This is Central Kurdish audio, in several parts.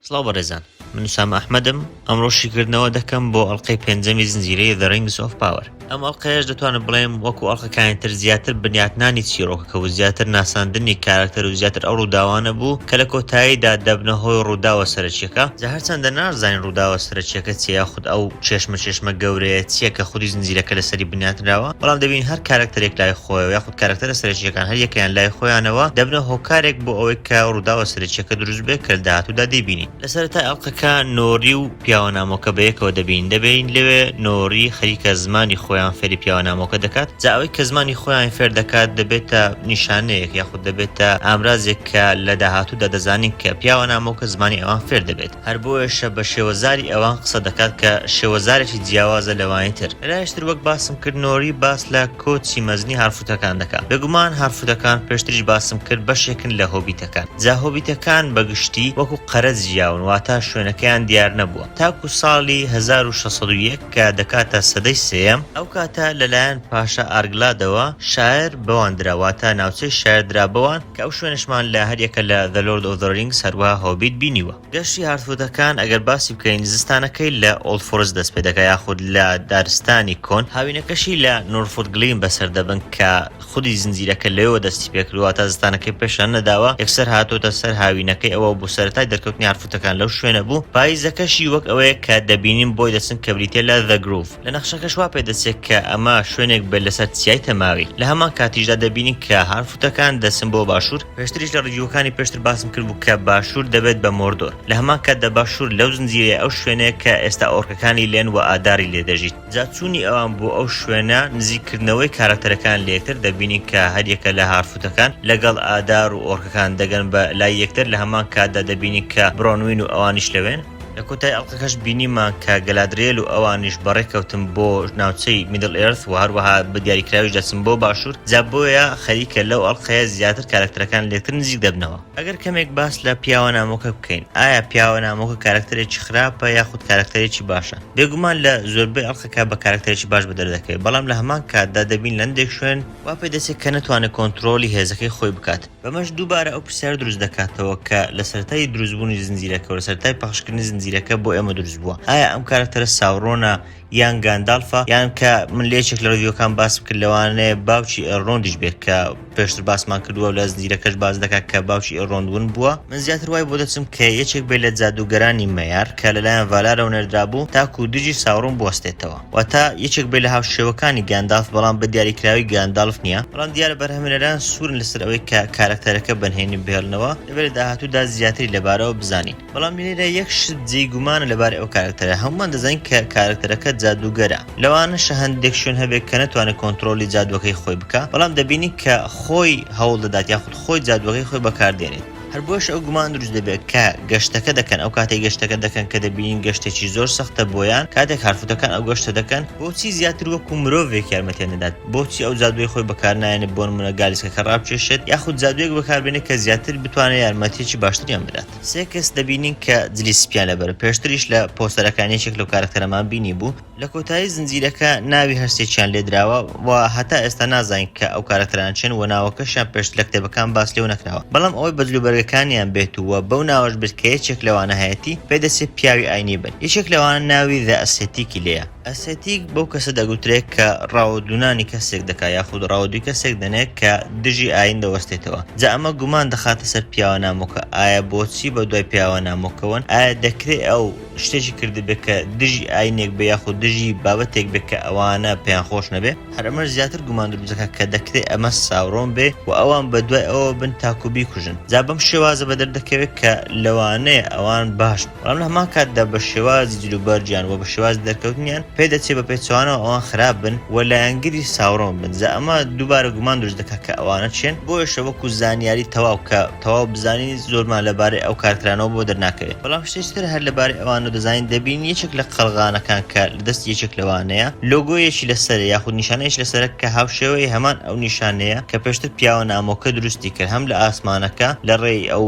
سڵاو بەڕێزان من سام ئەحمەدم ئەمڕۆ شیکردنەوە دەکەم بۆ ئەڵلقەی پێنجەمی زنجیرەیە The Rings of Power ئەم ئەڵلقەیەش دەتوانم بڵێم وەکو ئەڵلقەکانی تر زیاتر بنیاتنانی چیرۆکەکە و زیاتر ناساندنی کارکتەر و زیاتر ئەو ڕووداوانە بوو کە لە کۆتاییدا دەبنە هۆی ڕووداوە سەرچیەکە جا هەرچەندە نازانین ڕووداوە سەرچیەکە چیە ئەو چێشمە چێشمە گەورەیە چیە کە خودی زنجیرەکە لەسەری بنیاتنراوە، بەڵام دەبین هەر کارەکتەرێک لای خۆیەوە یاخود کارەکتەرە سەرەکییەکان هەر یەکەیان لای خۆیانەوە دەبنە هۆکارێک بۆ ئەوەی کە ڕووداوە سەرەکییەکە دروست بێت کە لە داهاتوودا دەیبینین. لە سەرەتای ئەڵقەکە نۆری و پیاوە نامۆکە بە یەکەوە دەبین، دەبین لەوێ نۆری خەریکە زمانی خۆیان فێری پیاوە نامۆکە دەکات، جا ئەوەی کە زمانی خۆیان فێر دەکات دەبێتە نیشانەیەک یاخود دەبێتە ئامرازێک کە لە داهاتوودا دەزانین کە پیاوە نامۆکە زمانی ئەوان فێر دەبێت. هەر بۆیەشە بە شێوەزاری ئەوان قسە دەکات کە شێوەزارێکی جیاوازە لەوانی تر. لەلایەکی تر وەک باسم کرد نۆری باس لە کۆچی مەزنی هارفوتەکان دەکات. بێگومان هارفوتەکان پێشتریش باسم کرد بەشێکن لە هۆبیتەکان. جا هۆبیتەکان بە گشتی وەکو قەرەج ژیاون واتە شوێنەکەیان دیار نەبووە تاکو ساڵی هەزار و شەش سەد و یەک کە دەکاتە سەدەی سێیەم، ئەو کاتە لەلایەن پاشا ئارگلادەوە شاێر بەوان درا واتە ناوچەی شاێر درا بەوان، کە ئەو شوێنەشمان لە هەریەکە لە The Lord of the Rings هەروەها Hobbit بینیوە. گەشتی هارتفودەکان ئەگەر باسی بکەین زستانەکەی لە Old Forest دەست پێ دەکا یاخود لە دارستانی کۆن، هاوینەکەشی لە Norfotglin بەسەر دەبن کە خودی زنجیرەکە لەوێوە دەستی پێ کردووە واتا زستانەکەی پێشان نەداوە یەکسەر هاتۆتە سەر هاوینەکەی ئەوە بۆ سەرەتای دەرکەوتنی هارتفوتەکان لەو شوێنە بوو پاییزەکەشی وەک ئەوەیە کە دەبینین بۆی دەچن کە بریتیە لە The Grove. لە نەخشەکەش وا پێدەچێت کە ئەمە شوێنێک بێت لەسەر چیای تەماوی، لە هەمان کاتیشدا دەبینین کە هانفوتەکان دەچن بۆ باشوور، پێشتریش لە ڕیڤیوەکانی پێشتر باسم کردبوو کە باشوور دەبێت بە مۆردۆر، لە هەمان کاتدا باشوور لەو زنجیرەیە ئەو شوێنەیە کە ئێستا ئۆرکەکانی لێن وە ئاداری لێ دەژیت، جا چوونی ئەوان بۆ ئەو شوێنە، نزیک کردنەوەی کارەکتەرەکان لە یەکتر، دەبینین کە هەریەکە لە هارفوتەکان لەگەڵ ئادار و ئۆرکەکان دەگەن بە لای یەکتر، لە هەمان کاتدا دەبینین کە برۆنوین و ئەوانیش لەوێن. لە کۆتایی ئەڵقەکەش بینیمان کە گەلادرێل و ئەوانیش بەڕێ کەوتن بۆ ناوچەی میدڵ ئێرث و هەروەها بە دیاریکراویش دەچن بۆ باشوور جا بۆیە خەریکە لەو ئەڵقەیە زیاتر کارەکتەرەکان لێکتر نزیک دەبنەوە. ئەگەر کەمێک باس لە پیاوە نامۆکە بکەین ئایا پیاوە نامۆکە کارەکتەرێکی خراپە یاخود کارەکتەرێکی باشە؟ بێگومان لە زۆربەی ئەڵقەکە بە کارەکتەرێکی باش بەدەر دەکەوێت بەڵام لە هەمان کاتدا دەبین لە هەندێک شوێن وا پێ دەچێت کە نەتوانێت کۆنتڕۆڵی هێزەکەی خۆی بکات. بەمەش دووبارە ئەو پرسیارە دروست دەکاتەوە کە لە سەرەتای دروستبوونی زنجیرەکە و لە سەرەتای پەخشکردنی زنجیرەکە بۆ ئێمە دروست بووە، ئایا ئەم کارەکتەرە ساورۆنە یان گاندالفە؟ یان کە من لە یەکێک لە ڕیڤیوەکان باسم کرد لەوانەیە باوکی ئێلرۆندیش بێت کە پێشتر باسمان کردووە و لە زنجیرەکەش باس دەکات کە باوکی ئێلرۆند ون بووە؟ من زیاتر وای بۆ دەچم کە یەکێک بێت لە جادووگەرانی مەیار کە لەلایەن ڤالارەوە نێردرابوو تاکوو دژی ساورۆن بوەستێتەوە. واتە یەکێک بێت لە هاوشێوەکانی گاندالف بەڵام بە دیاریکراوی گاندالف نییە، بەڵام دیارە بەرهەمهێنەران سوورن لەسەر ئەوەی کە کارەکتەرەکە بە نهێنی بهێڵنەوە، دەبێت لە داهاتوودا زیاتری لەبارەوە بزانین. بەڵام لێرە یەک شت جێی گومانە لەبارەی ئەو کارەکتەرە، هەموومان دەزانین کە کارەکتەرەکە جادووگەرە، لەوانەشە هەندێک شوێن هەبێت کە نەتوانێت کۆنتڕۆڵی جادووەکەی خۆی بکات، بەڵام دەبینین کە خۆی هەوڵدەدات یاخود خۆی جادووەکەی خۆی بەکاردێنێت. هەر بۆیەش ئەو گومان دروست دەبێت کە گەشتەکە دەکەن، ئەو کاتەی گەشتەکە دەکەن کە دەبینین گەشتێکی زۆر سەختە بۆیان، کاتێک هارفوتەکان ئەو گەشتە دەکەن، بۆچی زیاتر وەکو مرۆڤێک یارمەتیان دەدات، بۆچی ئەو جادووەی خۆی بەکارنایەنێت بۆ نموونە گالیسکەکە ڕابکێشێت، یاخود جادوویەک بەکاربێنێت کە زیاتر بتوانێت یارمەتییەکی باشتریان بدات. سێ کەس دەبینین کە جلی سپییان لەبەرە، پێشتریش لە پۆستەرەکان یەکێک لەو کارەکتەرەمان بینیبوو، لە کۆتایی زنجیرەکە ناوی هەر سێکیان لێ دراوە و هەتا ئێستا نازانین کە ئەو کارەکتەرانە چێن و ناوەکەشیان پێشتر لە کتێبەکان باس لێو نەکراوە بەڵام ئەوەی بە جلوبەرگەکانیان بێت و بەو ناوەش بێت کە یەکێک لەوانە هەیەتی پێ دەچێ پیاوی ئاینی بن یەکێک لەوانە ناوی The Ascetic ی لێیە. ئەسێتیک بەو کەسە دەگوترێ کە ڕاوەدوونانی کەسێک دەکا یاخود ڕاوەدووی کەسێک دەنێ کە دژی ئاین دەوەستێتەوە جا ئەمە گومان دەخاتە سەر پیاوە نامۆکە ئایا بۆچی بە دوای پیاوە نامۆکەوەن ئایا دەکرێ ئەو شتێکی کردبێت کە دژی ئاینێک بێ یاخود دژی بابەتێک بێت کە ئەوانە پێیان خۆش نەبێ هەر ئەمەش زیاتر گومان دروزەکە کە دەکرێت ئەمە ساورۆن بێ و ئەوان بە دوای ئەوە بن تاکو بیکوژن جا بەم شێوازە بە دەردەکەوێت کە لەوانەیە ئەوان باش بەڵام لە هەمان کاتدا بە شێوازی جلوبەرگیان و بە شێواز دەرکەوتنیان پێ دەچێت بە پێچوانەوە ئەوان خراپ بن و لایەنگری ساورۆن بن جا ئەمە دووبارە گومان دروست دەکات کە ئەوانە چێن بۆیشە وەکو زانیاری تەواو کە تەواو بزانی زۆرمان لە بارەی ئەو کار کرانەوە بۆ دەرناکەوێ بەڵام شتێکی تر هەر لە بارەی ئەوانەوە دەزانین دەبین یەکێک لە قەڵغانەکان کە لە دەستی یەکێک لەوانەیە لۆگۆیەکی لە سەرە یاخود نیشانەیەکی لە سەرە کە هاوشێوەی هەمان ئەو نیشانەیە کە پێشتر پیاوە نامۆکە دروستی کرد هەم لە ئاسمانەکە لە ڕێی ئەو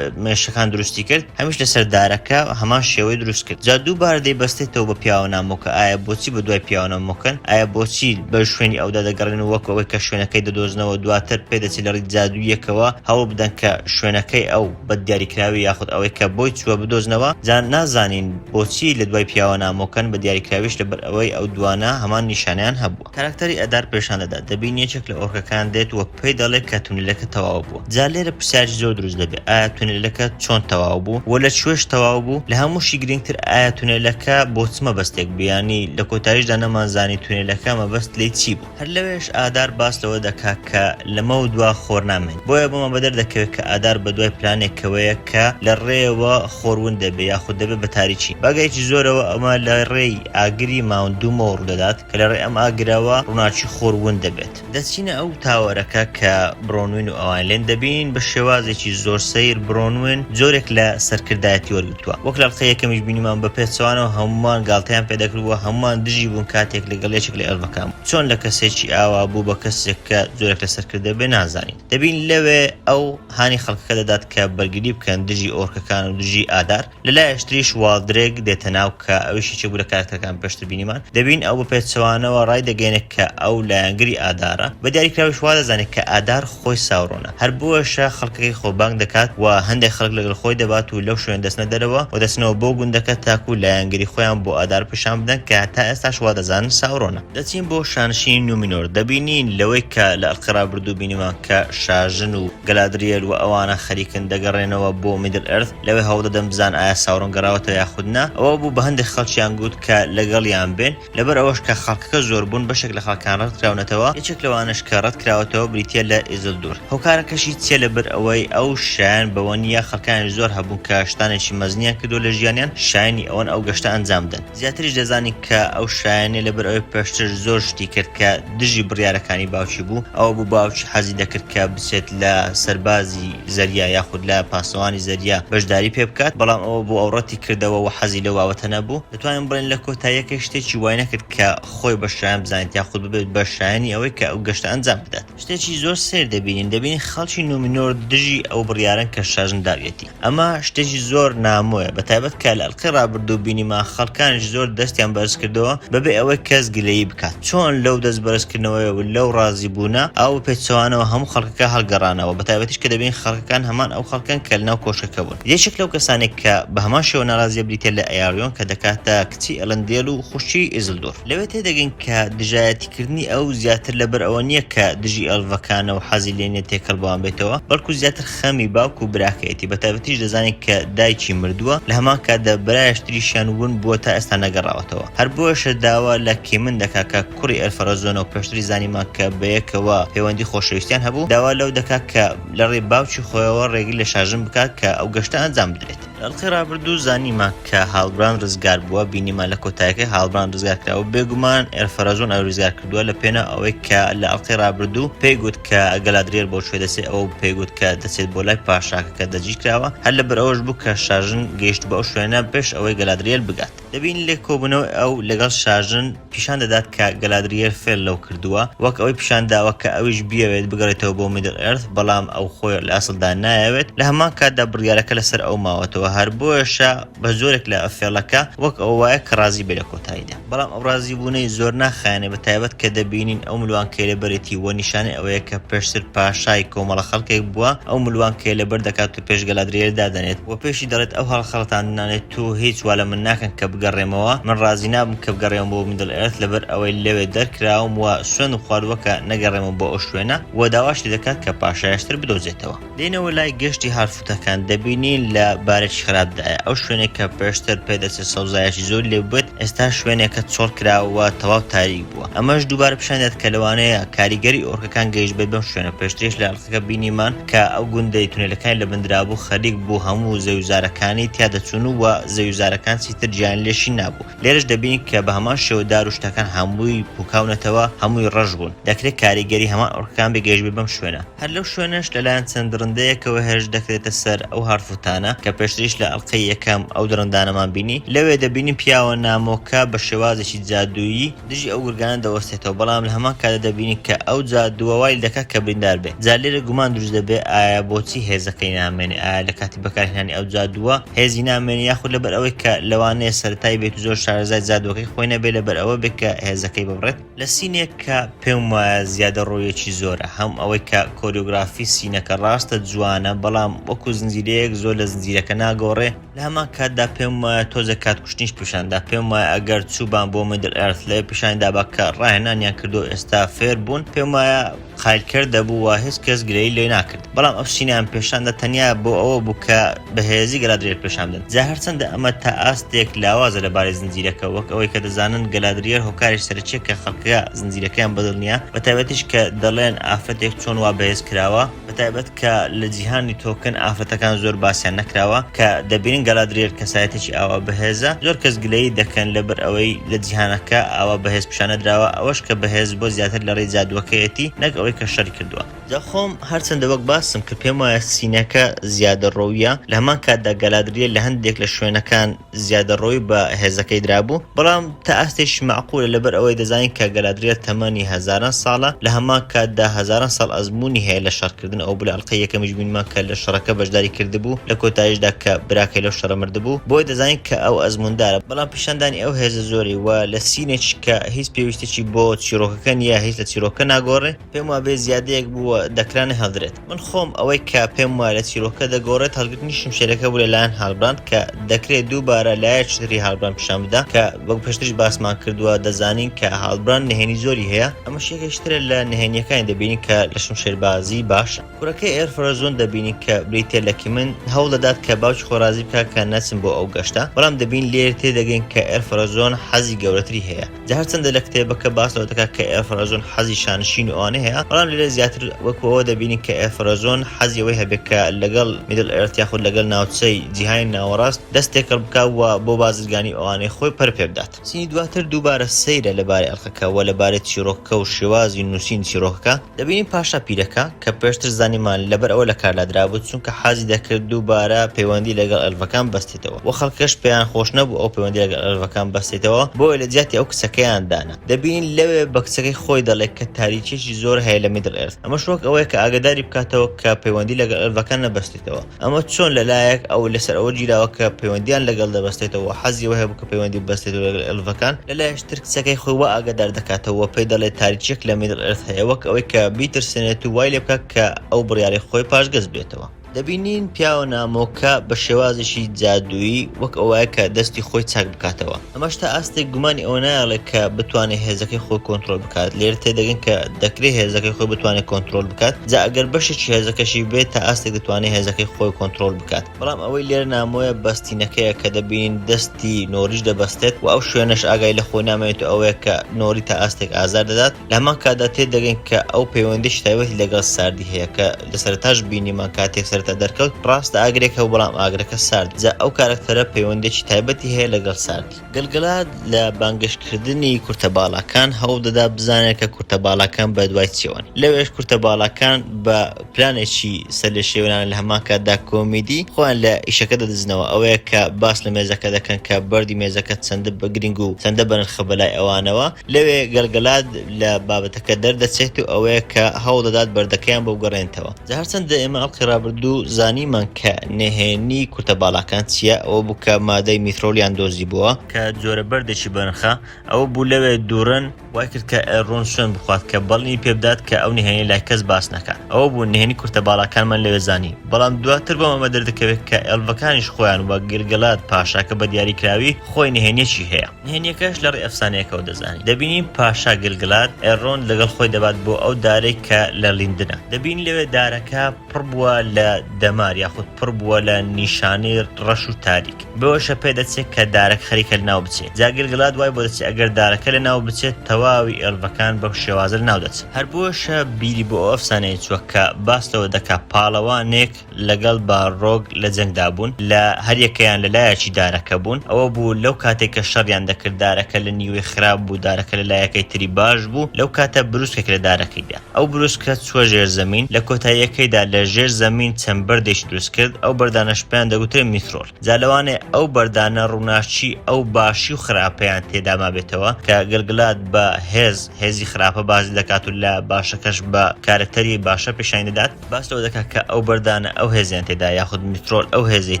مێشەکان دروستی کرد هەمیش لەسەر دارەکە هەمان شێوەی دروست کرد جا دوو بارە دەیبەستێتەوە بە پیاوە نامۆکە ئایا بۆچی بە دوای پیاوە نامۆکەن ئایا بۆچی بەر شوێنی ئەودا دەگەڕێن و وەک ئەوەی کە شوێنەکەی دەدۆزنەوە دواتر پێدەچێت لە ڕیت جادووییەکەوە هەوڵ بدەن کە شوێنەکەی ئەو بەد دیاریکراوی یاخود ئەوەی کە بۆی چووە بدۆزنەوە جا نازانین بۆچی لە دوای پیاوە نامۆکەن بە دیاریکراویش لەبەر ئەوەی ئەو دوانە هەمان نیشانەیان هەبووە. کاراکتەری ئەدار پێشان دەدات دەبینی یەکێک لە ئۆرکەکان دێت و پێی دەڵێت کە تونێلەکە تەواو بووە جا لێرە پرسیارێکی زۆر دروست دەبێت ئایا تونێلەکە چۆن تەواو بوو و لە کوێش تەواو بوو لە هەمووشی گرینگتر ئایا تونێلەکە بۆ چ مەبەستێک بوو یانی لە کۆتاییشدا نەمانزانی تونێلەکە مەبەست لێی چی بوو هەر لەوێش ئادار باس لەوە دەکات کە لەمەو دوا خۆر نامێنێت بۆیە بۆمان بەدەر دەکەوێت کە ئادار بەدوای پلانێکەوەیە کە لە ڕێیەوە خۆر ون دەبێت یاخود دەبێت بە تاریکی بەگایەکی زۆرەوە ئەمە لە ڕێی ئاگری ماوند دوومەوە ڕوودەدات. کە لە ڕێی ئەم ئاگرەوە ڕووناکی خۆر ون دەبێت. دەچینە ئەو تاوەرەکە کە برۆنوین و ئەوان لێن دەبینین، بە شێوازێکی زۆر سەیر برۆنوین جۆرێک لە سەرکردایەتی وەرگرتووە. وەک لە ئەڵقەی یەکەمیش بینیمان بە پێچەوانەوە هەمووان گاڵتەیان پێ دەکرد و هەمووان دژی بوون کاتێک لەگەڵ یەکێک لە ئێلڤەکان بوو. چۆن لە کەسێکی ئاوا بوو بە کەسێک کە جۆرێک لە سەرکردە بێ نازانین. دەبینین لەوێ ئەو هانی خەڵکەکە دەدات کە بەرگری بکەن دژی ئۆرکەکان و دژی ئادار. لە لایەش تریش والدرێک دێتە ناو کە ئەویش یەکێک بوو لە کاراکتەرەکان پێشتر بینیمان. دەبینین ئەو بە پێچەوانەوە ڕای دەگەیەنێت کە ئەو لایەنگری ئادارە. بە دیاریکراویش وا دەزانێت کە ئادار خۆی ساورۆنە. هەر بۆیەشە خەڵکەکەی خۆبانگ دەکات و هەندێک خەڵک لەگەڵ خۆی دەبات و لەو شوێنە دەچنە دەرەوە و دەچنەوە بۆ گوندەکە تاکوو لایەنگری خۆیان بۆ ئادار پیشان بدەن کە تا ئێستاش وا دەزانن ساورۆنە. دەچین بۆ شانشینی نومینۆر. دەبینین لەوەی کە لە ئەڵقەی ڕابردوو بینیمان کە شاژن و گەلادریێل و ئەوانە خەریکن دەگەڕێنەوە بۆ میدل ئێرث. لەوەی هەوڵدەدەن بزان ئایا ساورۆن گەڕاوەتەوە یاخود نا، ئەوە بوو بە هەندێک خەڵکیان گوت کە لەگەڵیان بێن، لەبەر ئەوەش کە خەڵکەکە زۆر بوون بەشێک لە خەڵکان ڕەتکراونەتەوە، یەکێک لەوانەش کە ڕەتکراوەتەوە بریتییە لە ئیزلدور، هۆکارەکەشی چییە لەبەر ئەوەی ئەو شایەن بەوە نییە، خەڵکانیش زۆر هەبوون کە شتانێکی مەزنیان کردووە لە ژیانیان شایەنی ئەوەن ئەو گەشتە ئەنجام بدەن. زیاتریش دەزانی کە ئەو شایەنی لەبەر ئەوەی پێشتر زۆر شتی کرد کە دژی بڕیارەکانی باوکی بوو ئەوە بوو باوکی حەزی دەکرد کە بچێت لە سەربازی زەریا یاخود لە پاسەوانی زەریا بەشداری پێ بکات بەڵام ئەوە بۆ ئەو ڕەتی کردەوە و حەزی لەو بابەتە نەبوو دەتوانین بڵێن لە کۆتاییەکەی شتێکی وای نەکرد کە خۆی بە شایەن بزانێت یاخود ببێت بە شایەنی ئەوەی کە ئەو گەشتە ئەنجام بدات. شتێکی زۆر سەیر دەبینین، دەبینین خەڵکی نومینۆر دژی ئەو بڕیارەن کە شاژن داویەتی، ئەمە شتێکی زۆر نامۆیە، بەتایبەت کە لە ئەلقەی ڕابردوو بینیمان خەڵکانیش زۆر دەستیان بەرزکردەوە بەبێ ئەوەی کەس گلەیی بکات، چۆن لەو دەست بەرزکردنەوەیە و لەو ڕازیبوونە ئاوا بەپێچەوانەوە هەموو خەڵکەکە هەڵگەڕانەوە، بەتایبەتیش کە دەبینین خەڵکەکان هەمان ئەو خەڵکەن کە لەناو کۆشکەکە بوون، یەکێک لەو کەسانەی کە بەهەمان شێوە ناڕازییە بریتییە لە ئەیاڕیۆن کە دەکاتە کچی ئێلەندێل و خوشکی ئیزلدور. لەوێ تێدەگەین کە دژایەتیکردنی ئەو زیاتر لەبەر ئەوە نییە کە دژی ئەلڤەکانە و حەزی لێ نیە تێکەڵ بەوان بێتەوە بەڵکو زیاتر خەمی باوک و براکەیەتی بە تایبەتیش دەزانین کە دایکی مردووە لە هەمان کاتدا برایشتریشیان ون بووە تا ئێستا نەگەڕاوەتەوە هەر بۆیشە داوا لە کیمن دەکا کە کوڕی ئەلفەرەزۆنە و پێشتری زانیمان کە بەیەکەوە پەیوەندی خۆشەویستیان هەبوو داوا لەو دەکات کە لەڕێی باوکی خۆیەوە ڕێگری لە شاژن بکات کە ئەو گەشتە ئەنجام بدرێت. ئەڵقەی ڕابردوو زانیمان کە هالبراند ڕزگار بووە بینیمان لە کۆتایەکەی هالبراند ڕزگار کراوە بێگومان ئێرفەرەزۆن ئەوی ڕزگار کردووە لە پێناو ئەوەی کە لە ئەڵقەی ڕابردوو پێی گوت کە گەلادریێل بۆ کوێ دەچێت ئەوە پێی گوت کە دەچێت بۆ لای پاشاکە کە دەجی کراوە هەر لەبەر ئەوەش بوو کە شاژن گەیشتبوو ئەو شوێنە پێش ئەوەی گەلادریێل بگات. دەبینین لە کۆبوونەوەی ئەو لەگەڵ شاژن پیشان دەدات کە گەلادریێل فێل لەو کردووە، وەک ئەوەی پیشان داوە کە ئەویش بیەوێت بگەڕێتەوە بۆ میدڵ ئێرث، بەڵام ئەو خۆی لە ئەسڵدا نایەوێت، لە هەمان کاتدا بڕیارەکە لەسەر ئەو ماوەتەوە، هەر بۆیەشە بە زۆرێک لە فێڵەکە وەک ئەوە وایە کە ڕازی بێت لە کۆتاییدا. بەڵام ئەو ڕازیبوونەی زۆر ناخایەنە بە تایبەت کە دەبینین ئەو ملوانکەی لەبەرێتی و نیشانەی ئەوەیە کە پێشتر پاشای کۆمەڵە خەڵکێک بووە ئەو ملوانکەیە لەبەر دەکات و پێش گەلادرێیل دادەنێت و پێشی دەڵێت، ئەو هەڵخەڵەتاندنانەی تۆ هیچ وا لە من ناکەن کە بگەڕێمەوە، من ڕازی نابم کە بگەڕێمەوە بۆ میدڵ ئێرث لەبەر ئەوەی لەوێ دەرکراوم و سوێندم خواردووە کە نەگەڕێمەوە بۆ ئەو شوێنە، و داواش لێ دەکات کە پاشایشتر بدۆزێتەوە. دێینەوە لای گەشتی هارفوتەکان، دەبینین لە بارێکی خراپدایە، ئەو شوێنەی کە پێشتر پێ دەچێت سەوزایەکی زۆر لێ بووبێت، ئێستا شوێنێکە چۆڵ کراوە و تەواو تاریک بووە. ئەمەش دووبارە پیشان دەدات کە لەوانەیە کاریگەری ئۆرکەکان گەیشتبێت بەم شوێنە، پێشتریش لە ئەڵقەکە بینیمان، کە ئەو گوندەی تونێلەکانی لە بن درابوو خەریک بوو هەموو زەویوزارەکانی تیا دەچوون و زەویوزارەکان چیتر جیان لێ شین نابوو لێرەش دەبینین کە بە هەمان شێوە دار و شتەکان هەمووی پووکاونەتەوە هەمووی ڕەش بوون دەکرێ کاریگەری هەمان ئۆرکەکان بێ گەیشتبێ بەم شوێنە. هەر لەو شوێنەش لە لایەن چەند درندەیەکەوە هێرش دەکرێتە سەر ئەو هارفوتانە کە پێشتریش لە ئەڵقەی یەکەم ئەو درندانەمان بینی لەوێ دەبینین پیاوە نامۆکە بە شێوازێکی جادوویی، دژی ئەو گورگانە دەوەستێتەوە بەڵام لە هەمان کاتدا دەبینین کە ئەو جادووە وای دەکات کە بریندار بێت جا لێرە گومان دروست دەبێت ئایا بۆچی هێزەکەی نامێنێت ئایا لە کاتی بەکارهێنانی ئەو جادووە هێزی نامێنێت یاخود لەبەر ئەوەی کە لەوانەیە سەرەتایی بێت و زۆر شارەزای جادووەکەی خۆی نەبێت لەبەر ئەوە بێت کە هێزەکەی ببڕێت لە سینێک کە پێم وایە زیادەڕۆییەکی زۆرە هەم ئەوەی کە کۆریۆگرافی سینەکە ڕاستە جوانە بەڵام وەکو زنجیرەیەک زۆر لە زنجیرەکە ناگۆڕێ. لە هەمان کاتدا پێم وایە تۆزێک کات کوشتنیش پیشاندا پێم وایە ئەگەر چوبان بۆ میدل ئێرث لەوێ پیشانی دابا کە ڕاهێنانیان کردو ئێستا فێر بوون پێم وایە قایلکەر دەبوو و هیچ کەس گلەیی لێ ناکرد بەڵام ئەو چینەیان پیشاندا تەنیا بۆ ئەوە بوو کە بەهێزی گەلادرێر پیشان بدەن جا هەرچەندە ئەمە تا ئاستێک لاوازە لەبارەی زنجیرەکە وەک ئەوەی کە دەزانن گەلادریەر هۆکاری سەرەکیە کە خەڵکە زنجیرەکەیان بەدڵ نییە بەتایبەتیش کە دەڵێن ئافرەتێک چۆن وا بەهێز کراوە بەتایبەت کە لە جیهانی تۆکن ئافرەتەکان زۆر باسیان نەکراوە کە دەبینن گەلادریێل کەسایەتێکی ئاوا بەهێزە زۆر کەس گلەیی دەکەن لەبەر ئەوەی لە جیهانەکە ئاوا بەهێز پیشانەدراوە ئەوەش کە بەهێز بۆ زیاتر لە ڕێی جادووەکەیەتی نەک ئەوەی کە شەری کردووە. جا خۆم هەرچەندە وەک باسم کرد پێم وایە سینەکە زیادەڕۆییە لە هەمان کاتدا گەلادریێل لە هەندێک لە شوێنەکان، زیادەڕۆی بە هێزەکەی درابوو، بەڵام تا ئاستێکی مەعقولە لەبەر ئەوەی دەزانین کە گەلادریێل تەمەنی هەزاران ساڵە، لە هەمان کاتدا هەزاران ساڵ ئەزموونی هەیە لە شەڕکردن، ئەوە بوو لە ئەڵقەی یەکەمیش بینمان کە لە شەڕەکە بەشداری کردبوو، لە کۆتاییشدا کە براکەی لەو شەڕە مردبوو، بۆیە دەزانین کە ئەو ئەزمووندارە، بەڵام پیشاندانی ئەو هێزە زۆری و لە سینێکی کە هیچ پێویستێکی بۆ چیڕۆکەکە نییە هیچ لە چیرۆکەکە ناگۆڕێ، پێم وابێ زیادەیەک بووە دەکرا نەهێڵدرێت. من خۆم ئەوەی کە پێم وایە لە چیرۆکەکە دەگۆڕێت هەڵگرتنی شمشێرەکە بوو لەلایەن هالبراند کە دەکرێت دووبارە لایەکی تری هالبراند پیشان بدا کە وەک پێشتریش باسمان کردووە دەزانین کە هالبراند نهێنی زۆری هەیە ئەمەش یەکێکی ترە لە نهێنییەکانی دەبینین کە لە شمشێربازی باشە. کوڕەکەی ئێر فرەزۆن دەبینین کە بریتییە لە کیمن هەوڵ دەدات کە باوکی خۆی ڕازی بکات کە نەچن بۆ ئەو گەشتە بەڵام دەبینین لێرە تێدەگەین کە ئێر فرەزۆن حەزی گەورەتری هەیە. جا هەرچەندە لە کتێبەکە باس لەوە دەکات کە ئێفرەزۆن حەزی شانشینی ئەوانەی هەیە، بەڵام لێرە زیاتر وەکو ئەوە دەبینین کە ئێفرەزۆن حەزی ئەوەی هەبێت کە لەگەڵ میدڵ ئێرت یاخود لەگەل ناوچەی جیهانی ناوەڕاست دەست تێکەڵ بکات و بۆ بازرگانی ئەوانەی خۆی پەر پێ بدات. سینی دواتر دووبارە سەیرە لەبارەی ئەڵقەکە و لەبارەی چیڕۆکەکە و شێوازی نووسینی چیڕۆکەکە، دەبینین پاشا پیرەکە، کە پێشتر زانیمان لەبەر ئەوە لە کارلا درابوو چونکە حەزی دەکرد دووبارە پەیوەندی لەگەڵ ئەلڤەکان بەستێتەوە وە خەڵکەش پێیان خۆش نەبوو ئەو پەیوەندی لەگەڵ ئەلڤەکان بەستێتەوە بۆیە لە جیاتی ئەو کچەکەیان دانا دەبینین لەوێ بە کچەکەی خۆی دەڵێ کە تاریکیەکی زۆر هەیە لە میدڵ ئێرث ئەمەش وەک ئەوەیە کە ئاگەداری بکاتەوە کە پەیوەندی لەگەڵ ئەلڤەکان نەبەستێتەوە ئەمە چۆن لەلایەک ئەو لەسەر ئەوە گیراوە کە پەیوەندییان لەگەڵ دەبەستێتەوە و حەزی ئەوە هەبوو کە پەیوەندی ببەستێتەوە لەگەڵ ئێلڤەکان، لەلایەکی تر کچەکەی خۆی وا ئاگادار دەکاتەوە و پێی دەڵێت تاریکییەک لە میدڵ ئێرث هەیە وەک ئەوەی کە بیترسێنێت و وای لێ بکات کە ئەو بڕیاری خۆی پاشگەز بێتەوە. دەبینین پیاوە نامۆکە بە شێوازێکی جادوویی وەک ئەوەیە کە دەستی خۆی چاک بکاتەوە. ئەمەش تا ئاستێک گومانی ئەوە نایەڵێت کە بتوانێت هێزەکەی خۆی کۆنترۆل بکات، لێرە تێدەگەین کە دەکرێت هێزەکەی خۆی بتوانێت کۆنترۆل بکات، جا ئەگەر بەشێکی هێزەکەشی بێت تا ئاستێک دەتوانێت هێزەکەی خۆی کۆنترۆل بکات. بەڵام ئەوەی لێرە نامۆیە بەستینەکەیە کە دەبینین دەستی نۆریش دەبەستێت و ئەو شوێنەش ئاگای لە خۆی نامێنێت و ئەوەیە کە نۆری تا ئاستێک ئازار دەدات، لە هەمان کاتدا تێدەگەین کە ئەو پەیوەندیش تایبەتی لەگەڵ ساردی هەیە کە لە سەرەتاش بینیمان کاتێک سەرەتا دەرکەوت ڕاستە ئاگرێک هەبوو بەڵام ئاگرەکە سارد جا ئەو کارەکتەرە پەیوەندێکی تایبەتی هەیە لەگەڵ ساردی. گەلگەلاد لە بانگەشکردنی کورتە باڵاکان هەوڵ دەدا بزانێت کە کورتە باڵاکان بە دوای چیەوەن لەوێش کورتە باڵاکان بە پلانێکی سەرلێشێوێنانە لە هەمان کاتدا کۆمیدی خۆیان لە ئیشەکە دەدزنەوە ئەوەیە کە باس لە مێزەکە دەکەن کە بەردی مێزەکە چەندە بە گرینگ و چەندە بەنرخە بەلای ئەوانەوە لەوێ گەلگەلاد لە بابەتەکە دەردەچێت و ئەوەیە کە هەوڵ دەدات بەردەکەیان بۆ بگەڕێنتەوە. جا هەرچەندە ئێمە ئەڵقی ڕابردوو زانیمان کە نهێنی کورتە باڵاکان چییە، ئەوە بوو کە مادەی میثرۆلیان دۆزیبووە، کە جۆرە بەردێکی بەنرخە، ئەوە بوو لەوێ دوورن، وای کرد کە ئێلرۆند سوێند بخوات کە بەڵینی پێ بدات کە ئەو نهێنییە لای کەس باس ناکات، ئەوە بوو نهێنی کورتە باڵاکانمان لەوێ زانی، بەڵام دواتر بۆ ئەمە دەردەکەوێت کە ئێلڤەکانیش خۆیان وەک گەلگەلاد پاشاکە بە دیاریکراوی خۆی نهێنییەکی هەیە. نهێنیەکەش لە ڕێ ئەفسانەیەکەوە دەزانین دەبینین پاشا گلگلات ئێرۆند لەگەڵ خۆی دەبات بۆ ئەو دارەی کە لە لیندنە دەبینین لەوێ دارەکە پڕ بووە لە دەمار یاخود پڕ بووە لە نیشانەی ڕەش و تاریک بەوەشە پێ دەچێت کە دارەک خەریکە لەناو بچێت جا گلگلات وای بۆ دەچێت ئەگەر دارەکە لەناو بچێت تەواوی ئێڵڤەکان بەو شێوازە لەناو دەچن هەر بۆیەشە بیری بۆ ئەو ئەفسانەیە چووە کە باس لەوە دەکات پاڵەوانێک لەگەڵ باڕۆگ لە جەنگدا بوون، لە هەر یەکەیان لە لایەکی دارەکە بوون، ئەوە بوو لەو کاتەی کە شەڕیان دەکرد دارەکە لە نیوەی خراپ بوو دارەکە لە لایەکەی تری باش بوو، لەو کاتە بروسکێک لە دارەکەی دا. ئەو بروسکە چووە ژێر زەمین، لە کۆتاییەکەیدا لە ژێر زەمین چەند بەردێکی دروست کرد، ئەو بەردانەش پێیان دەگوترێ میترۆل. جا لەوانەیە ئەو بەردانە ڕووناکی ئەو باشی و خراپەیان تێدا مابێتەوە کە گلگلات بە هێز، هێزی خراپە باس دەکات و لە باشەکەش بە کارەکتەری باشە پێشانی دەدات. باس لەوە دەکات کە ئەو بەردانە ئەو هێزیان تێدایە یاخود میترۆل ئەو هێزەی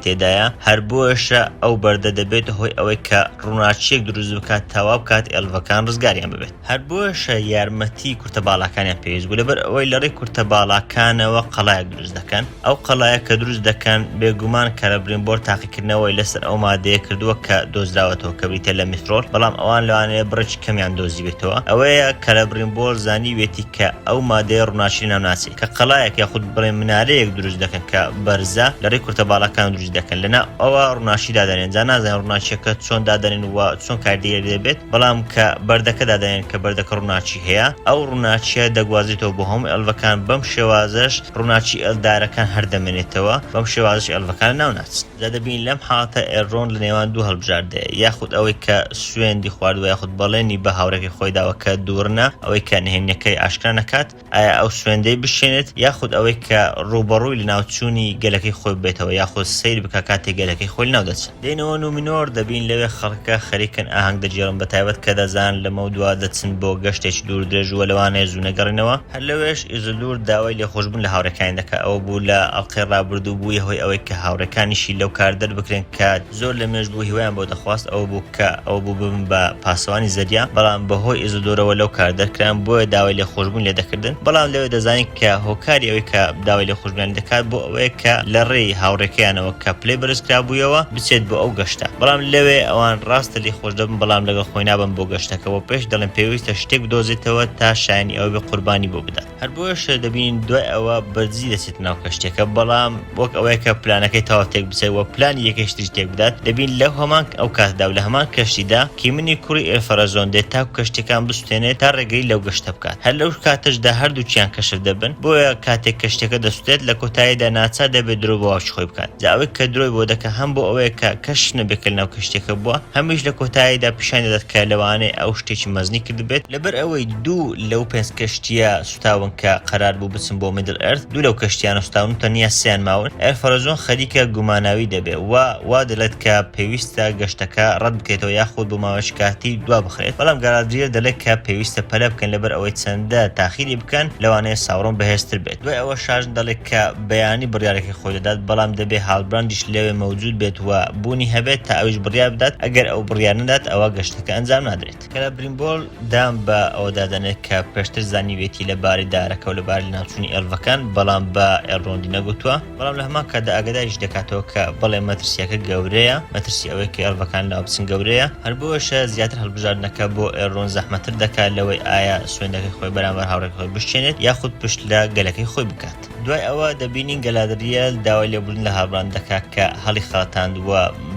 تێدایە، هەر بۆیەشە ئەو بەردە دەبێتە هۆی ئەوەی کە ڕووناکییەک دروست بکات تا وا بکات ئێلڤەکان ڕزگاریان ببێت، هەر بۆیەشە یارمەتیی کورتە باڵاکانیان پێویست بوو، لەبەر ئەوەی لە ڕێی کورتە باڵاکانەوە قەڵایەک دروست دەکەن، ئەو قەڵایە کە دروست دەکەن بێگومان کەرەبرینبۆر تاقیکردنی. کردنەوەی لەسەر ئەو مادەیە کردووە کە دۆزراوەتەوە کە بریتە لە میثرۆل بەڵام ئەوان لەوانەیە بڕێکی کەمیان دۆزیبێتەوە ئەوەیە کەلەبرینبۆر زانیویەتی کە ئەو مادەیە ڕووناکی لەناو ناچێت کە قەڵایەک یاخود بڵێ منارەیەک دروست دەکەن کە بەرزە لەڕێی کورتە باڵەکان دروست دەکەن لەنا ئەوە ڕووناکی دادەنێن جا نازانین ڕووناکیەکە چۆن دادەنێن و چۆن کاردێر دەبێت بەڵام کە بەردەکە دادەنێن کە بەردەکە ڕووناکی هەیە ئەو ڕووناکیە دەگوازێتەوە بۆ هەموو ئەلڤەکان بەم شێوازەش ڕووناکی ئێلدارەکان هەر دەمێنێتەوە، بەم شێوازەش ئێلڤەکان لەناو ناچن. جا دەبینین لەم حاڵەتە ئێلرۆند لە نێوان دوو هەڵبژاردەیە، یاخود ئەوەی کە سوێندی خواردووە یاخود بەڵێنی بە هاوڕێکەی خۆی داوە کە دووڕنە ئەوەی کە نهێنییەکەی ئاشکرا نەکات، ئایا ئەو سوێندەی بشکێنێت یاخود ئەوەی کە ڕووبەڕووی لەناوچوونی گەلەکەی خۆی ببێتەوە یاخود سەیر بکا کاتێک گەلەکەی خۆی لەناو دەچن. دێنەوە نومینۆر دەبین لەوێ خەڵکەکە خەریکن ئاهەنگ دەگێڕن بەتایبەت کە دەزانن لەمەودوا دەچن بۆ گەشتێکی دووردرێژ و لەوانەیە زوو نەگەڕێنەوە هەر لەوێش ئیزیدور داوای لێخۆشبوون لە هاوڕێکانی دەکات ئەوە بوو لە ئەڵقەی ڕابردوو بوویە هۆی ئەوەی کە هاوڕێکانیشی لەو کار دەربکرێن کە زۆر لەمێژ بوو هیوایان بۆ دەخواست ئەوە بوو کە ئەوە بوو ببن بە پاسەوانی زەریا بەڵام بەهۆی ئیزیدورەوە لەو کار دەرکران بۆیە داوای لێخۆشبوون لێدەکردن بەڵام لەوێ دەزانین کە هۆکاری ئەوەی کە داوای دوژمنانی دەکات بۆ ئەوەیە کە لە ڕێی هاوڕێکەیانەوە کە پلەی بەرزکرابوویەوە بچێت بۆ ئەو گەشتە بەڵام لەوێ ئەوان ڕاستە لێی خۆش دەبن بەڵام لەگەڵ خۆی نابن بۆ گەشتەکە بۆ پێش دەڵێن پێویستە شتێک بدۆزێتەوە تا شایانی ئەوە بێ قوربانی بۆ بدات هەر بۆیەش دەبینین دوای ئەوە بەدزی دەچێت ناو کەشتێکە بەڵام وەک ئەوەیە کە پلانەکەی تەواو تێک بچێت و پلانی یەکەیش تریش تێک بدات دەبین لەو هەمان ئەو کاتدا و لە هەمان کەشتیدا کیمنی کوڕی ئێلفەرەزۆن دێت تاکو کەشتەکان دەسوتێنێت تا ڕێگری لەو گەشتە بکات، هەر لەو کاتەشدا هەردووکیان کەشف دەبن، بۆیە کاتێک کەشتیەکە دەسوتێت لە کۆتاییدا ناچار دەبێت درۆ بۆ ئاوچی خۆی بکات، جا ئەوەی کە درۆی بۆ دەکات هەم بۆ ئەوەیە کە کەشف نەبێت کە لەناو کەشتیەکە بووە، هەمیش لە کۆتاییدا پیشانی دەدات کە لەوانەیە ئەو شتێکی مەزنی کردبێت، لەبەر ئەوەی دوو لەو پێنج کەشتیە، سوتاون کە قەرار بوو بچن بۆ میدل ئێرث دوو لەو کەشتیانە سوتاون و تەنیا سێیان ماون ئێر فەرەجۆن خەریکە گوماناوی دەبێت و وا دەلێت کە پێویستە گەشتەکە رەت بکرێتەوە یاخود بۆ ماوەیەکی کاتی دوا بخرێت بەڵام گالادریێل دەلێت کە پێویستە پەلە بکەن لەبەر ئەوەی چەندە تاخیری بکەن لەوانەیە ساورۆن بەهێزتر بێت دوای ئەوە شاژن دەڵێت کە بەیانی بڕیارەکەی خۆی دەدات بەڵام دەبێت هالبراندیش لەوێ مەوجود بێت و بوونی هەبێت تا ئەویش بڕیار بدات ئەگەر ئەو بڕیار نەدات ئەوا گەشتەکە ئەنجام نادرێت. کەلە بریمبۆل دان بە ئەوەدا دەنێت کە پێشتر زانیویەتی لە باری دارەکە و لە باری لەناوچوونی ئێلڤەکان، بەڵام بە ئێلرۆندی نەگوتووە، بەڵام لە هەمان کاتدا ئاگاداریشی دەکاتەوە کە بەڵێ مەترسییەکە گەورەیە، مەترسی ئەوەی کە ئێلڤەکان لەناو بچن گەورەیە، هەر بۆیەشە زیاتر هەڵبژاردنەکە بۆ ئێلرۆند زەحمەتتر دەکات لەوەی ئایا سوێندەکەی خۆی بەرامبەر هاوڕێکەی خۆی بشکێنێت یاخود پشت لە گەلەکەی خۆی بکات. دوای ئەوە دەبینین گەلادرییەل داوای لێبوردن لە هاڵبراند دەکات کە هەڵیخەڵەتاند و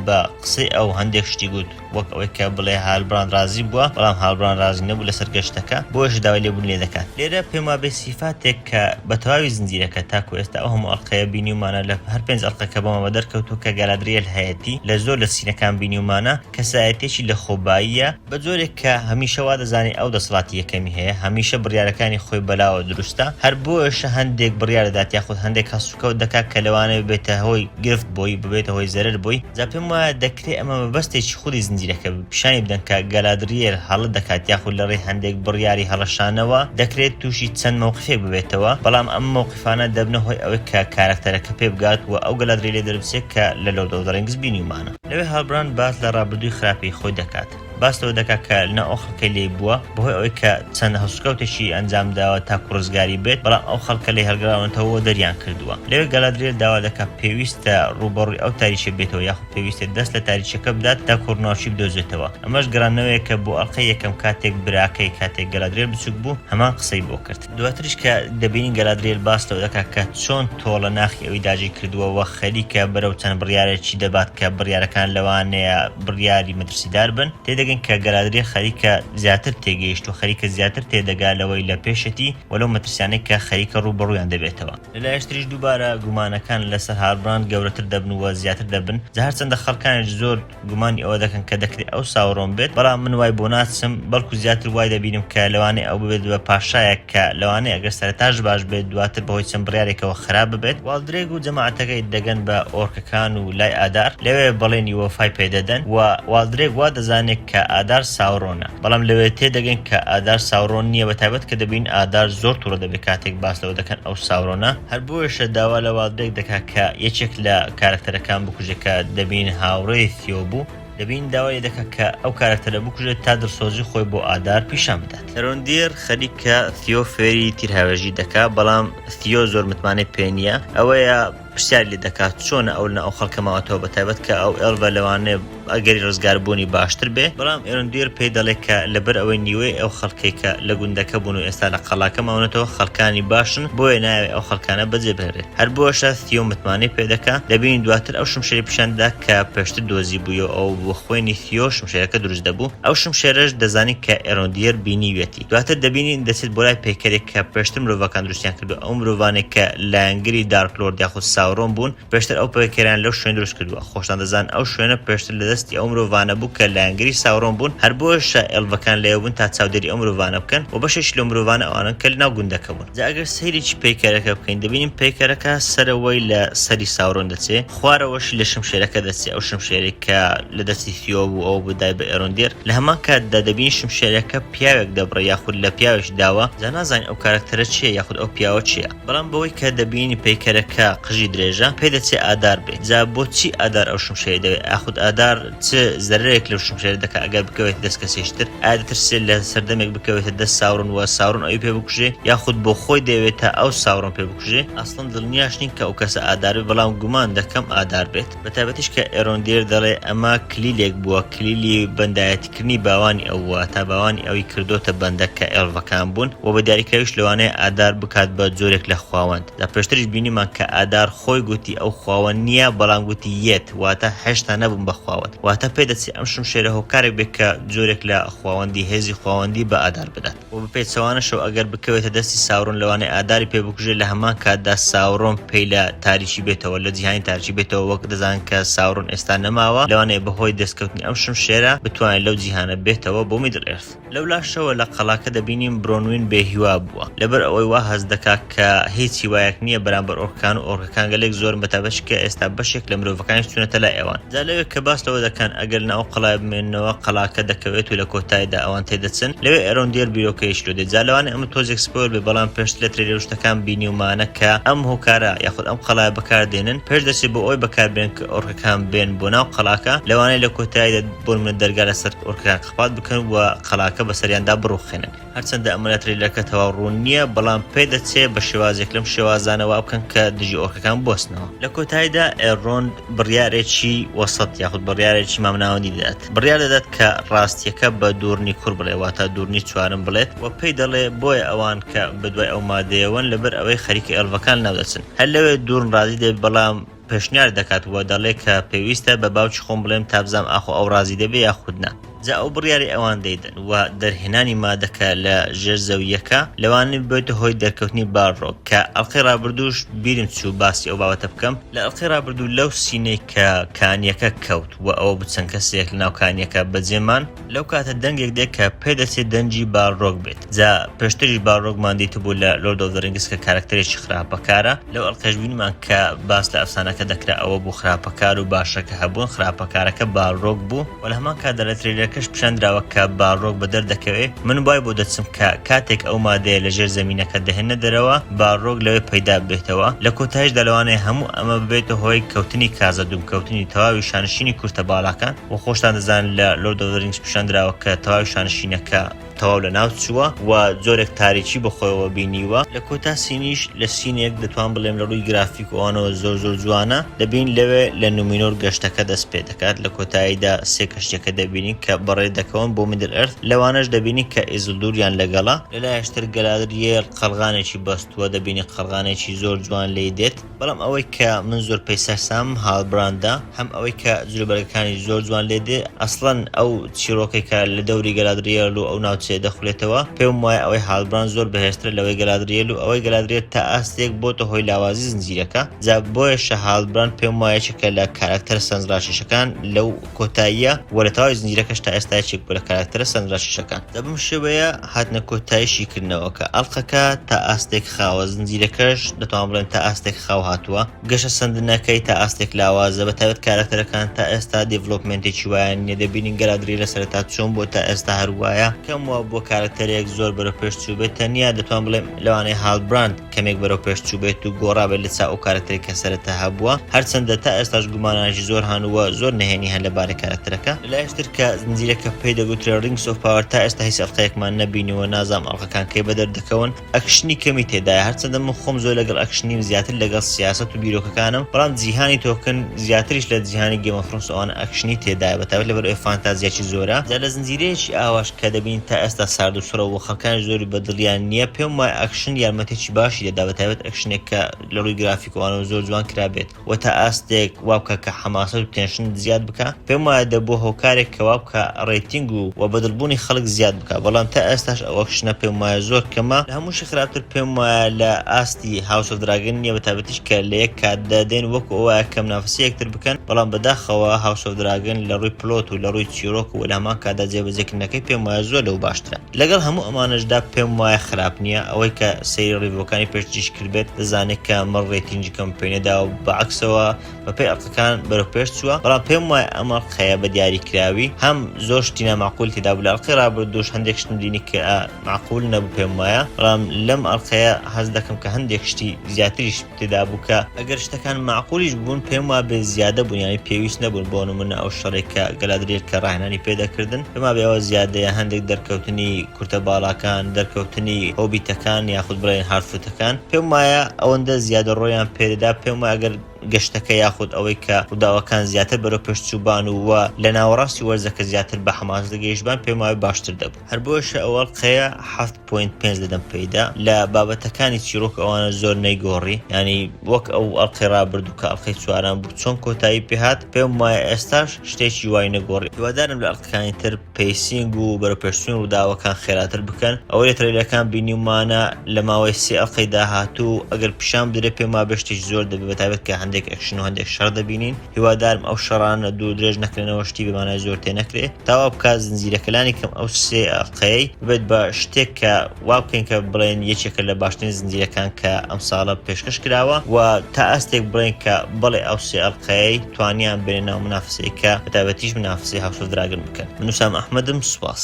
بە قسەی ئەو هەندێک شتی گوت، وەک ئەوەی کە بڵێ هالبراند رازی بووە، بەڵام هالبراند رازی نەبوو لەسەر گەشتەکە، بۆیەش داوای لێبوونی لێ دەکات. لێرە پێم وابێ سیفاتێک کە بە تەواوی زنجیرەکە تاکو ئێستا ئەو هەموو ئەڵقەیە بینیومانە لە هەر پێنج ئەڵقەکە بۆمە بە دەرکەوتوو کە گالادریێل هەیەتی، لە زۆر لە سینەکان بینیومانە، کەسایەتییەکی لەخۆباییە، بە جۆرێک کە هەمیشە وا دەزانێ ئەو دەسەڵاتی یەکەمی هەیە، هەمیشە بڕیارەکانی خۆی بەلاوە دروستە، هەر بۆیەشە هەندێک بڕیار دەدات یاخود هەندێک هەڵسوکەوت دەکات کە لەوانەیە ببێتە هۆی گرفت بۆی، ببێتە هۆی زەرەر بۆی، جا پێم وایە کرێ ئەمە مەبەستێکی خولی زنجیرەکە بێت پیشانی بدەن کە گالادریێل هەڵە دەکات یاخود لە ڕێی هەندێک بڕیاری هەڵەشانەوە دەکرێت تووشی چەند مەوقفێک ببێتەوە بەڵام ئەم مەوقفانە دەبنە هۆی ئەوەی کە کارەکتەرەکە پێ بگات وە ئەو گالادریێلە دەربچێت کە لە لۆرد ئۆف دە ڕینگس بینیومانە. لەوێ هالبراند باس لە ڕابردووی خراپی خۆی دەکات باس لەوە دەکات کە لەناو ئەو خەڵکەی لێی بووە بەهۆی ئەوەی کە چەند هەڵسوکەوتێکی ئەنجام داوە تاکو ڕزگاری بێت بەڵام ئەو خەڵکە لێی هەڵگراونەتەوە وە دەریان کردووە لەوێ گالادریێل داوا دەکات پێویستە ڕووبەڕووی ئەو تاریکیە بێتەوە یاخود پێویستە دەست لە تاریچەکە بدات تا کۆرناوچی بدۆزێتەوە ئەمەش گەڕانەوەیەکە بۆ ئەڵقەی یەکەم کاتێک براکەی کاتێک گەلادرێل بچوک بوو هەمان قسەی بۆ کرد دواتریش کە دەبینین گەلادرێل باس لەوە دەکات کە چۆن تۆڵە ناخی ئەوی داگیر کردووە وە خەریکە بەرەو چەند بڕیارێکی دەبات کە بڕیارەکان لەوانەیە بڕیاری مەترسیدار بن تێدەگەین کە گەلادرێ خەریکە زیاتر تێگەیشتووە خەریکە زیاتر تێدەگا لەوەی لە پێشەتی وە لەو مەترسیانەی کە خەریکە ڕوو بەڕوویان دەبێتەوە. لە لایشتریش دووبارە گومانەکان لە سەر هاربراند گەورەتر دەبن و زیاتر دەبن، جا هەرچەندە خەڵکانیش زۆر گومانی ئەوە دەکەن کە دەکرێت ئەو ساورۆن بێت، بەڵام من وای بۆ ناچم، بەڵکو زیاتر وای دەبینم کە لەوانەیە ئەو ببێت بە پاشایەک کە لەوانەیە گەر سەرەتاش باش بێت دواتر بەهۆی چەند بڕیارێکەوە خراپ ببێت. والدرێگ و جەماعەتەکەی دەگەن بە ئۆرکەکان و لای ئادار، لەوێ بەڵێنی وەفای پێدەدەن و والدرێگ وا دەزانێت کە ئادار ساورۆنە. بەڵام لەوێ تێدەگەین کە ئادار ساورۆن نییە بە تایبەت کە دەبینین ئادار زۆر توڕە دەبێت کاتێک باس لەوە دەکەن ئەو ساورۆنە، هەر بۆیەشە داوا لە والدبێک دەکات کە یەکێک لە کارەکتەرەکان بکوژێت کە دەبینین هاوڕێی ثیۆ بوو، دەبینین داوای لێ دەکات کە ئەو کارەکتەرە بکوژێت تا دڵسۆزی خۆی بۆ ئادار پیشان بدات. هێرۆندیر خەریکە ثیۆ فێری تیرهاوێژی دەکات، بەڵام ثیۆ زۆر متمانەی پێ نییە، ئەوەیە، پرسیاری لێ دەکات چۆنە ئەو لە ئەو خەڵکە ماوەتەوە بە تایبەت کە ئەو ئێڵڤە لەوانەیە ئەگەری ڕزگار بوونی باشتر بێ بەڵام ئێرۆن دویر پێی دەڵێ کە لە بەر ئەوەی نیوەی ئەو خەڵکەی کە لە گوندەکە بوون و ئێستا لە قەڵاکە ماونەتەوە خەڵکانی باشن بۆیە نایەوێ ئەو خەڵکانە بەجێ بهێڵێ هەر بۆشە ثیۆ متمانەی پێ دەکا دەبینین دواتر ئەو شمشێری پیشان دەدا کە پێشتر دۆزی بووی و ئەوە بووە خوێنی ثیۆ شمشێرەکە دروست دەبوو ئەو شمشێرەش دەزانی کە ئێرۆن دویر بینیویەتی. دواتر دەبینین دەچێت بۆ لای پەیکەرێک کە پێشتر مرۆڤەکان دروستیان کردووە، ئەو مرۆڤانەی کە لایەنگری دارک لۆرد یاخود ساورۆن بوون پێشتر ئەو پەیکەرەیان لەو شوێن دروست کردووە، خۆشتان دەزانن ئەو شوێنە پێشتر لە دەستی ئەو مرۆڤانە بوو کە لایەنگری ساورۆن بوون، هەر بۆیەشە ئێلڤەکان لەوێ بوون تا چاودێری ئەو مرۆڤانە بکەن، وە بەشێکی لەو مرۆڤانە ئەوانەن کە لەناو گوندەکە بوون. جا ئەگەر سەیرێکی پەیکەرەکە بکەین دەبینین پەیکەرەکە سەرەوەی لە سەری ساورۆن دەچێ، خوارەوەشی لە شمشێرەکە دەچێ، ئەو شمشێرەی کە لە دەستی ثیۆ بوو ئەوە بوو دای بە ئێروندێر، لە هەمان کاتدا دەبینین شمشێرەکە پیاوێک دەبڕێ یاخود لە پیاوێش داوە جا نازانین ئەو کارەکتەرە چیە یاخود ئەو پیاوە چیە بەڵام بەوەی کە دەبینی پەیکەرەکە قژی درێژە پێ دەچێ ئادار بێ جا بۆ چی ئادار ئەو شمشێری دەوێ ئاخود ئادار چ زەرەرێک لەو شمشێرە دەکا ئەگەر بکەوێتە دەست کەسێکی تر ئایا دەترسێ لە سەردەمێک بکەوێتە دەست ساورۆن و ساورۆن ئەوی پێ بکوژێ یاخود بۆ خۆی دەیەوێت تا ئەو ساورۆن پێ بکوژێ ئەسڵەن دڵنیاش نیم کە ئەو کەسە ئادار بێ بەڵام گومان دەکەم ئادار بێت. بە تایبەتیش کە ئێرۆن دیر دەڵێ ئەمە کلیلێک بووە، کلیلی بەندایەتیکردنی باوانی ئەو، واتا باوانی ئەوی کردۆتە بەندە کە ئێڵڤەکان بوون و بە دیاریکراویش لەوانەیە ئادار بکات بە جۆرێک لە خواوەند. جا پێشتریش بینیمان کە ئادار خۆی گوتی ئەو خواوەند نییە، بەڵام گوتی یێت، واتا هێشتا نەبووم بە خواوەند. واتا پێدەچێ ئەم شمشێرە هۆکارێک بێت کە جۆرێک لە خواوەندی، هێزی خواوەندی بە ئادار بدات. و بە پێچەوانەشەوە ئەگەر بکەوێتە دەستی ساورۆن لەوانەیە ئاداری پێ بکوژێت لە هەمان کاتدا ساورۆن پێی لە تاریکی بێتەوە لە جیهانی تاریکی بێتەوە وەک دەزان کە ساورۆن ئێستا نەماوە لەوانەیە بەهۆی دەستکەوتنی ئەم شمشێرە بتوانێت لەو جیهانە بێتەوە بۆ میدڵ ئێرث. لەولاشەوە لە قەڵاکە دەبینین برۆنوین بێهیوا بووە لەبەر ئەوەی وا هەست دەکات، کە هیچ هیوایەک نییە بەرامبەر ئۆرکەکان و ئۆرکەکان گەلێک زۆرن بە تایبەتیش کە ئێستا بەشێک لە مرۆڤەکانیش چوونەتە لای ئەوان. جا لەوێ کە باس لەوە دەکەن ئەگەر لە ئەو قەڵایە بمێننەوە قەڵاکە دەکەوێت و لە کۆتایدا ئەوان تێدەچن لەوێ ئەرۆن دیێر بیرۆکەیەکی لۆ دێت جا لەوانەیە ئەمە تۆزێک سپۆیڵ بێت بەڵام پێشتر لە ترەیلەر و شتەکان بینیومانە کە ئەم هۆکارە یاخود ئەم قەڵایە بەکار دێنن پێش دەچێت بۆ ئەوەی بەکار بێنن کە ئۆرکەکان بێن بۆ ناو قەڵاکە لەوانەیە لە کۆتایدا بۆ نمونە دەرگا لەسەر ئۆرکەکان قەپات بکەن و قەڵاکە بەسەریاندا بڕوخێنن. هەرچەندە ئەمە لە ترەیلەرەکە تەواو ڕوون نییە، بەڵام پێدەچێ بە شێوازێک لەم شێوازانە وا بکەن کە دژی ئۆرکەکان بوەستنەوە. لە کۆتاییدا ئێلرۆند بڕیارێکی وەسەت یاخود بڕیارێکی مامناوەندی دەدات. بڕیار دەدات کە ڕاستییەکە بە دوورنی کوڕ بڵێ واتە دوورنی چوارم بڵێت و پێی دەڵێ بۆیە ئەوان کە بەدوای ئەو مادەیەوەن لەبەر ئەوەی خەریکە ئێڵڤەکان لەناو دەچن هەر لەوێ دوورن ڕازی دەبێت بەڵام پێشنیار دەکات و دەڵێ کە پێویستە بە باوکی خۆم بڵێم تا بزام ئاخۆ ئەو ڕازی دەبێ یاخود نا. جا ئەو بڕیاری ئەوان دەیدەن و دەرهێنانی مادەکە لە ژێر زەوییەکە لەوانەیە ببێتە هۆی دەرکەوتنی بارڕۆک کە ئەڵقەی ڕابردووش بیرم چوو باسی ئەو بابەتە بکەم، لە ئەڵقەی ڕابردوو لەو سینەی کە کانییەکە کەوت و ئەوە بوو چەند کەسێک لەناو کانییەکە بەجێ مان، لەو کاتە دەنگێک دێت کە پێدەچێت دەنگی باڵرۆگ بێت جا پێشتریش باڵرۆگمان دیتبوو لە لۆرد ئۆف ڕینگس کە کارکتەرێکی خراپەکارە لەو ئەڵقەش بینمان کە باس لە ئەفسانەکە دەکرا ئەوە بوو خراپەکار و باشەکە هەبوون خراپەکارەکە باڵرۆگ بوو و لە هەمان کاتدا لە ترێلەرەکەش پیشاندراوە کە باڵرۆگ بە دەردەکەوێت من وای بۆ دەچم کە کاتێک ئەو مادەیە لە ژێر زەمینەکە دەهێنە دەرەوە باڵرۆگ لەوێ پەیدا ببێتەوە لە کۆتایشدا لەوانەیە هەموو ئەمە ببێتە هۆی کەوتنی کازە دووم کەوتنی تەواوی شانشینی کورتە باڵاکان وە خۆشتان دەزانن لە Lord of the Rings پیشان دراوە کە تەواوی شانشینەکە تەواو لە ناو چووە و جۆرێک تاریکی بە خۆیەوە بینیوە، لە کۆتا سینیش لە سینێک دەتوان بڵێم لە ڕووی گرافیک و ئەوانەوە زۆر زۆر جوانە، دەبین لەوێ لە نومینۆر گەشتەکە دەست پێ دەکات لە کۆتاییدا سێ کەشتیەکە دەبینین کە بەڕێ دەکەون بۆ میدل ئەرث لەوانەش دەبینین کە ئیزلدوریان لەگەڵە، لە لایش تر گەلادریێل قەڵغانێکی بەستووە دەبینین قەڵغانێکی زۆر جوان لێی دێت. بەڵام ئەوەی کە من زۆر پێی سەرسامم هالبراندە، هەم ئەوەی کە جلوبەرگەکانی زۆر جوان لێ دێ، ئەسڵەن ئەو چیڕۆکەی کە لە دەوری گەلادریێل و ئەو ناوچەیە دەخولێتەوە، پێم وایە ئەوەی هالبراند زۆر بەهێزترە لەوەی گەلادریێل و ئەوەی گەلادریێل تا ئاستێک بۆتە هۆی لاوازی زنجیرەکە، جا بۆیەشە هالبراند پێم وایە یەکێکە لە کارەکتەرە سەرنجڕاکێشەکان لەو. کۆتاییە و لە تەواوی زنجیرەکەش تا ئێستا یەکێک بووە لە کاراکتەرە سەرنراشیشەکان. دە بەم شێوەیە هاتنە کۆتایی شیکردنەوەکە. ئەڵقەکە تا ئاستێک خاوە، زنجیرەکەش دەتوان بڵێن تا ئاستێک خاو هاتووە. گەشە سەندنەکەی تا ئاستێک لاوازە، بە تایبەت کاراکتەرەکان تا ئێستا دیڤلۆپمێنتێکی وایان نییە، دەبینین گەلادریێل لە سەرەتا چۆن بووە تا ئێستا هەر وایە، کەم وابووە کارەکتەرێک زۆر بەرەو پێش چووبێت، تەنیا دەتوان بڵێم لەوانەیە هالبراند، کەمێک بەرەو پێش چووبێت و گۆڕابێت لە چا ئەو کارەکتەرەی کە سەرەتا هەبووە، هەرچەندە تا ئێستاش گومانانێکی زۆر هەن و زۆر نهێنی هەن لەبارەی کارەکتەرەکە. لەلایەکی تر کە زنجیرەکە پێی دەگوترێت Rings of Power تا ئێستا هیچ ئەڵقەیەکمان نەبینیوە نازانم ئەڵقەکان کەی بەدەر دەکەون، ئەکشنی کەمی تێدایە هەرچەندە من خۆم زۆر لەگەڵ ئەکشن نیم زیاتر لەگەڵ سیاسەت و بیرۆکەکانم بەڵام جیهانی تۆکن زیاتریش لە جیهانی Game of Thrones ئەوانە ئەکشنی تێدایە بەتایبەت لەبەر ئەوەی فانتازیاکی زۆرە جا لە زنجیرەیەکی ئاواش کە دەبینی تا ئێستا سارد و سڕە و خەڵکانیش زۆری بە دڵیان نییە، پێم وایە ئەکشن یارمەتیی باشی دەدا بە تایبەت ئەکشنێک کە لە ڕووی گرافیکەوانەوە زۆر جوان کرابێت و تا ئاستێک وا بکا کە حەماسەت و تێنشنت زیاد بکا، پێم وایە دەبووە هۆکارێک کە وا بکا ڕەیتینگ و و بەدڵبوونی خەڵک زیاد بکا، بەڵام تا ئێستاش ئەو ئەکشنە پێم وایە زۆر کەمە. لە هەمووشی خراپتر پێم وایە لە ئاستی هاوس ئۆف دراگن نییە بە تایبەتیش کە لە یەک کاتدا دێن وەکو ئەو وایە کە منافەسەی یەکتر بکەن، بەڵام بەداخەوە هاوس ئۆف دراگن لە ڕووی پڵۆت و لە ڕووی چیرۆک و لامان کادا جێبەجێکردنەکەی پێم وایە زۆر لەو باشترە لەگەڵ هەموو ئەمانەشدا پێم وایە خراپ نییە ئەوەی کە سەیری ڕیڤۆکانی پێش جیش کردبێت دەزانێت کە مەڕ ڕێتینگیکەم پێ نەداوە بەعەکسەوە بەپێی ئەڵقەکان بەرەو پێش چووە بەڵام پێم وایە ئەم ئەڵقەیە بە دیاری کراوی هەم زۆر شتی نامەعقول تێدا بوو لە ئەڵقەی ڕابردووش هەندێک شتم دینی کە مەعقول نەبوو پێم وایە بەڵام لەم ئەڵقەیە حەز دەکەم کە هەندێک شتی زیاتریش تێدا بوو کە ئەگەر شتەکان مەعقولیش ببوون پێم وابێ زیادە بوون یانی پێویست نەبوون بۆ نمونە ئەو شەڕێک کە گەلادریل کە ڕاهێنانی پێ دەکردن پێما بێ ئەوە زیادەیە هەندێک دەرکەوتنی کورتە باڵاکان دەرکەوتنی هۆبیتەکان یاخود بڵێین هارفوتەکان پێم وایە ئەوەندە زیادە ڕۆیان پێ دەدا پێم وایە ئەگەر گەشتەکە یاخود ئەوەی کە ڕووداوەکان زیاتر بەرەو پێشچووبان و و لە ناوەڕاستی وەرزەکە زیاتر بە حەماس دەگەیشتبان پێم وایە باشتر دەبوو. هەر بۆیشە ئەو ئەڵقەیە حەفت پۆینت پێنج لەدەم پێیدا لە بابەتەکانی چیرۆک ئەوانە زۆر نەیگۆڕی یانی وەک ئەو ئەڵقەی ڕابردوو کە ئەڵقەی چوارەم بوو چۆن کۆتایی پێهات پێم وایە ئێستاش شتێکی وای نەگۆڕی هیوادارم لە ئەڵقەکانی تر پەیسینگ و بەرەوپێشچوونی ڕووداوەکان خێراتر بکەن ئەوەی لە ترەیلەکان بینیومانە لە ماوەی سێ ئەڵقەی داهاتوو ئەگەر پیشان بدرێت پێم وابێ شتێکی زۆر دەبێت بەتایبەت کە هەندێک ئەکشن و هەندێک شەڕ دەبینین. هیوادارم ئەو شەڕانە دوور درێژ نەکرێنەوە شتی بە مانای زۆر تێ نەکرێ تا وا بکات زنجیرەکە لانی کەم ئەو سێ ئەڵقەیەی ببێت بە شتێک کە وا بکەین کە بڵێین یەکێکە لە باشترین زنجیرەکان کە ئەم ساڵە پێشکەش کراوە و تا ئاستێک بڵێین کە بەڵێ ئەو سێ ئەڵقەیەی توانیان بێنە ناو منافسەیەکە بە تایبەتیش منافسەی هاوس ئۆف دراگن بکەن من وسام ئەحمەدم سوپاس.